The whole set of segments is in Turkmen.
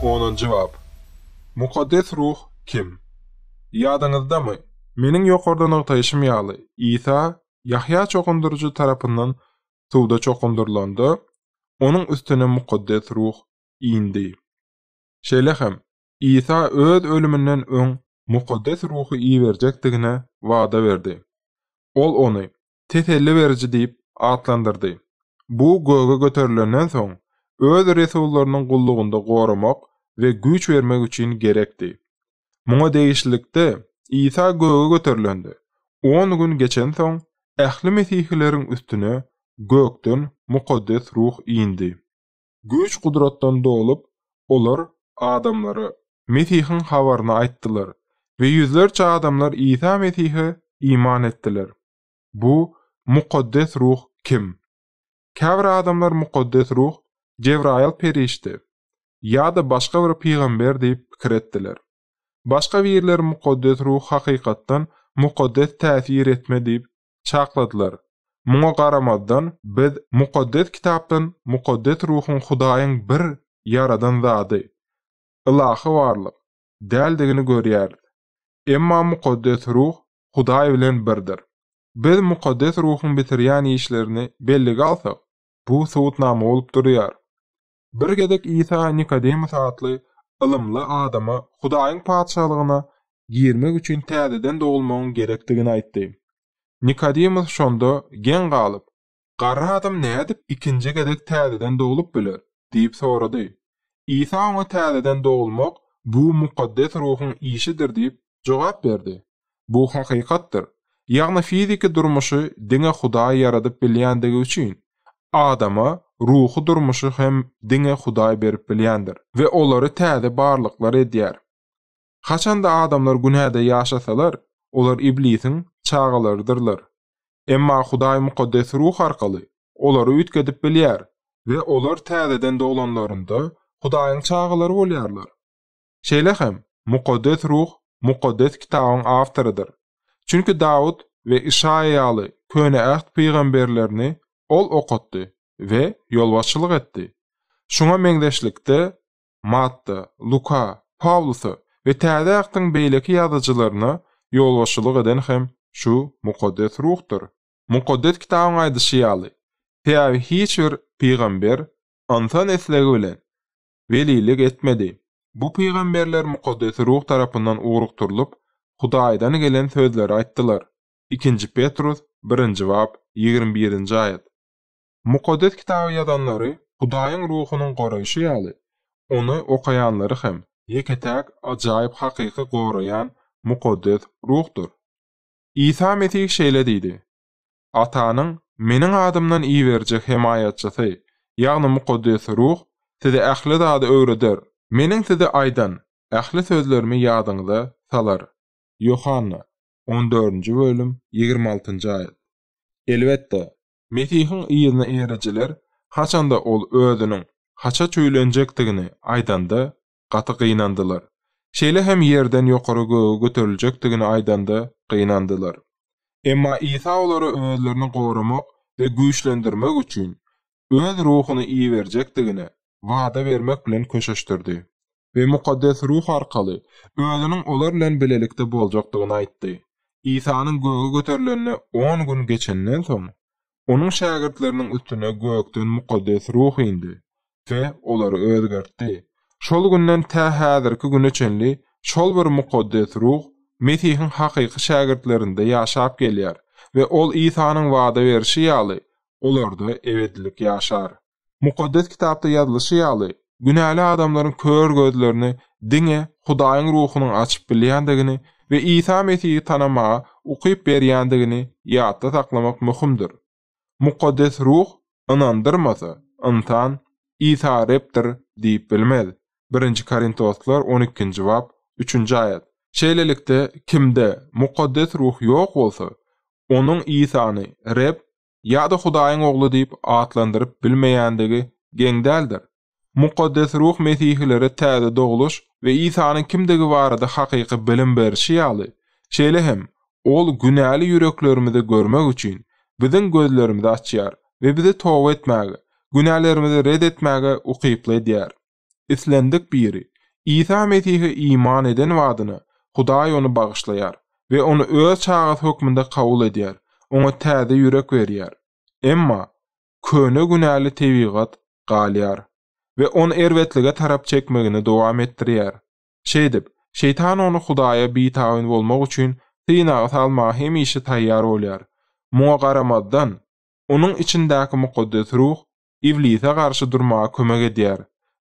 Onunjy bap. Mukaddes Ruh kim? Ýadyňyzdamy, meniň ýokarda nygtaýşym ýaly, Isa Ýahýa çokundyryjy tarapyndan suwda çokundyrylanda, onuň üstüne Mukaddes Ruh indi. Şeýle hem, Isa öz ölüminden öň Mukaddes Ruhy iberjekdigine wada berdi. Ol ony Teselli beriji diýip atlandyrdy. Bu göge göterilenden soň, öz resullarynyň gullugynda goramak we güýç bermek üçin gerekdi. Muňa degişlilikde, Isa göge göterilende, on gün geçensoň, ähli mesihileriň üstüne gökden mukaddes ruh indi. Güýç-gudratdan dolup, olar adamlara Mesihiň habaryny aýtdylar we ýüzlerçe adamlar Isa Mesihe iman etdiler. Bu Mukaddes Ruh kim? Käbir adamlar Mukaddes Ruh Jebraýyl perişde ýa-da başga bir pygamber diýip pikir etdiler. Başga birler Mukaddes Ruh hakykatdan mukaddes täsir etme diýip çakladylar. Muňa garamazdan, biz Mukaddes Kitapdan mukaddes ruhuň Hudaýyň bir Ýaradan Zady, ylahy barlyk, däldigini görýäris. Emma mukaddes ruh Hudaý bilen birdir. Biz mukaddes ruhuň bitirýän işlerini bellige alsak, bu subutnama bolup durýar. Bir gezek Isa Nikodemus atly ylymly adama Hudaýyň Patyşalygyna girmek üçin täzeden dogulmagyň gerekdigini aýtdy. Nikodemus şonda geň galyp, Garry adam nädip ikinji gezek täzeden doglup biler? diýip sorady. Isa oňa täzeden dogulmak bu mukaddes ruhuň işidir diýip jogap berdi. Bu hakykatdyr. Ýagny fiziki durmuşy diňe Hudaý ýaradyp bilýändigi üçin, adama ruhy durmuşy hem diňe Hudaý berip bilýändir we olary täze barlyklar edýär. Haçanda adamlar günäde ýaşasalar, olar iblisiň çagalarydyrlar. Emma Hudaý mukaddes ruh arkaly olary üýtgedip bilýär, we olar täzeden doglanlarynda Hudaýyň çagalary bolýarlar. Şeýle hem, Mukaddes Ruh Mukaddes Kitabyň awtorydyr. Çünki Dawut we Işaýa ýaly Köne Äht pygamberlerini Ol okatdy we ýolbaşçylyk etdi. Şuňa meňzeşlikde, Matta, Luka, Pawlusa we Täze Ähtiň beýleki ýazyjylaryna ýolbaşçylyk eden hem şu Mukaddes Ruhdyr. Mukaddes Kitabyň aýdyşy ýaly, sebäbi hiç bir pygamber ynsan islegi bilen welilik etmedi. Bu pygamberler Mukaddes Ruh tarapyndan ugrukdyrylyp, Hudaýdan gelen sözleri aýtdylar. Ikinji Petrus, birinji bap, ýigrimi birinji aýat. Mukaddes Kitaby ýazanlary Hudaýyň Ruhunyň goraýşy ýaly, ony okaýanlary hem ýeke-täk ajaýyp hakyky goraýan Mukaddes Ruhdur. Isa Mesih şeýle diýdi, Atanyň Meniň adymdan iberjek hemaýatçysy, ýagny Mukaddes Ruh size ähli zady öwreder. Meniň size aýdan ähli sözlerimi ýadyňyza salar. Ýohanna, on dördünji bölüm, ýigrimi altynjy aýat. Elbetde! Mesihiň yzyna erijiler haçanda Ol Özüniň haça çüýlenjekdigini aýdanda, gaty gynandylar. Şeýle hem ýerden ýokary göge göteriljekdigini aýdanda gynandylar. Emma Isa olara özlerini goramak we güýçlendirmek üçin Öz Ruhuny iberjekdigine wada bermek bilen köşeşdirdi we Mukaddes Ruh arkaly Özüniň olar bilen bilelikde boljakdygyny aýtdy. Isanyň göge göterilenine on gün geçenden soň, Onuň şägirtleriniň üstüne gökden mukaddes ruh indi we olary özgertdi. Şol günden tä häzirki güne çenli şol bir mukaddes ruh Mesihiň hakyky şägirtlerinde ýaşap gelýär we ol Isanyň wada berşi ýaly, olarda ebedilik ýaşar. Mukaddes Kitapda ýazylyşy ýaly, günäli adamlaryň kör gözlerini diňe Hudaýyň Ruhunyň açyp bilýändigini we Isa Mesihi tanamaga ukyp berýändigini ýatda saklamak möhümdir. Mukaddes Ruh ynandyrmasa, ynsan Isa Rebdir diýip bilmez, Birinji Korintoslar on ikinji bap, üçünji aýat. Şeýlelikde, kimde Mukaddes Ruh ýok bolsa, onuň Isany Reb ýa-da Hudaýyň Ogly diýip atlandyryp bilmeýändigi geň däldir. Mukaddes Ruh mesihilere täze dogluş we Isanyň kimdigi barada hakyky bilim berşi ýaly, şeýle hem Ol günäli ýüreklerimizi görmek üçin, biziň gözlerimizi açýar we bizi toba etmäge, günälerimizi ret etmäge ukyply edýär. Islendik biri Isa Mesihe iman eden badyna, Hudaý ony bagyşlaýar we ony öz çagasy hökmünde kabul edýär, oňa täze ýürek berýär. Emma, köne günäli tebigat galýar we ony erbetlige tarap çekmegini dowam etdirýär. Şeýdip, Şeýtan ony Hudaýa bitabyn bolmak üçin synaga salmaga hemişe taýýar bolýar. Muňa garamazdan, onuň içindäki mukaddes ruh Iblise garşy durmaga kömek edýär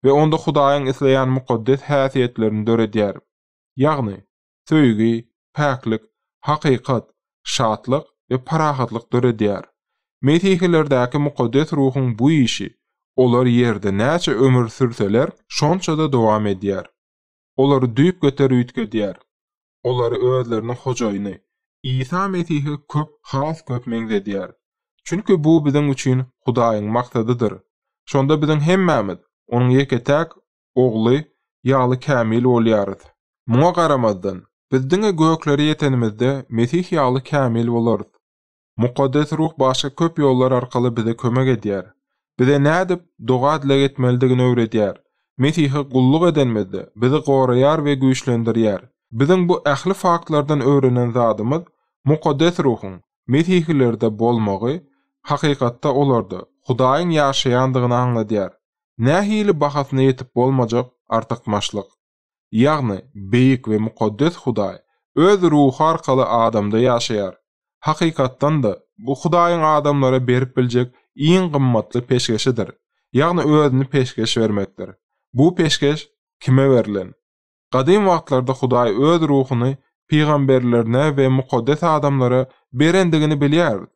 we onda Hudaýyň isleýän mukaddes häsiýetlerini döredýär. Ýagny, söýgi, päklik, hakykat, şatlyk we parahatlyk döredýär. Mesihilerdäki mukaddes ruhuň bu işi, olar ýerde näçe ömür sürseler, şonça-da dowam edýär. Olary düýpgöter üýtgedýär. olary özleriniň Hojaýyny, Isa Mesihe köp, has köp meňzedýär. Çünki bu biziň üçin Hudaýyň maksadydyr. Şonda biziň hemmämiz Onuň ýeke-täk Ogly ýaly kämil bolýarys. Muňa garamazdan, biz diňe göklere ýetenimizde Mesih ýaly kämil bolarys. Mukaddes Ruh başga köp ýollar arkaly bize kömek edýär. Bize nädip doga-dileg etmelidigini öwredýär. Mesihe gulluk edenimizde, bizi goraýar we güýçlendirýär. Biziň bu ähli faktlardan öwrenen zadymyz, Mukaddes Ruhuň, mesihilerde bolmagy, hakykatda olarda, Hudaýyň ýaşaýandygyny aňladýar. Nähili bahasyna ýetip bolmajak artykmaçlyk! ýagny Beýik we Mukaddes Hudaý Öz Ruhy arkaly adamda ýaşaýar. Hakykatdan-da, bu Hudaýyň adamlara berip biljek iň gymmatly peşgeşidir, ýagny Özüni peşgeş bermekdir. Bu peşgeş kime berlen? Gadym wagtlarda Hudaý Öz Ruhuny pygamberlerine we mukaddes adamlara berendigini bilýäris.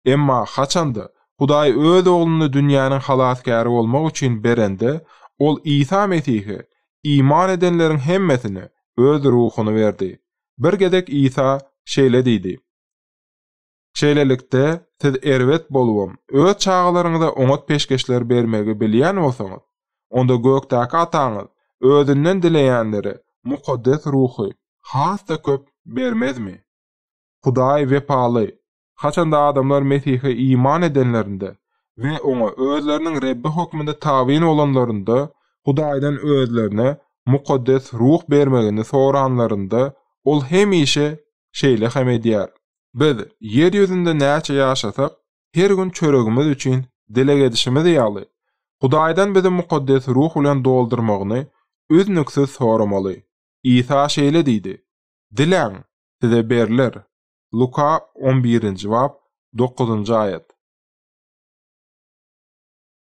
Emma haçanda Hudaý Öz Ogluny dünýäniň halasgäri bolmak üçin berende, Ol Isa Mesihe iman edenleriň hemmesine Öz Ruhuny berdi. Bir gezek Isa şeýle diýdi, Şeýlelikde, siz erbet bolubam, öz çagalaryňyza oňat peşgeşler bermegi bilýän bolsaňyz, onda gökdäki Ataňyz Özünden dileýänlere Mukaddes Ruhy has-da köp bermezmi? Hudaý wepaly, Haçanda adamlar Mesihe iman edenlerinde we Oňa özleriniň Rebbi hökmünde tabyn bolanlarynda, Hudaýdan özlerine Mukaddes Ruh bermegini soranlarynda, Ol hemişe şeýle hem edýär. Biz ýer ýüzünde näçe ýaşasak, her gün çöregimiz üçin dileg edişimiz ýaly, Hudaýdan bizi Mukaddes Ruh bilen doldurmagyny üznüksiz soramaly. Isa şeýle diýdi, Diläň, size berler. Luka on birinji bap, dokuzynjy aýat.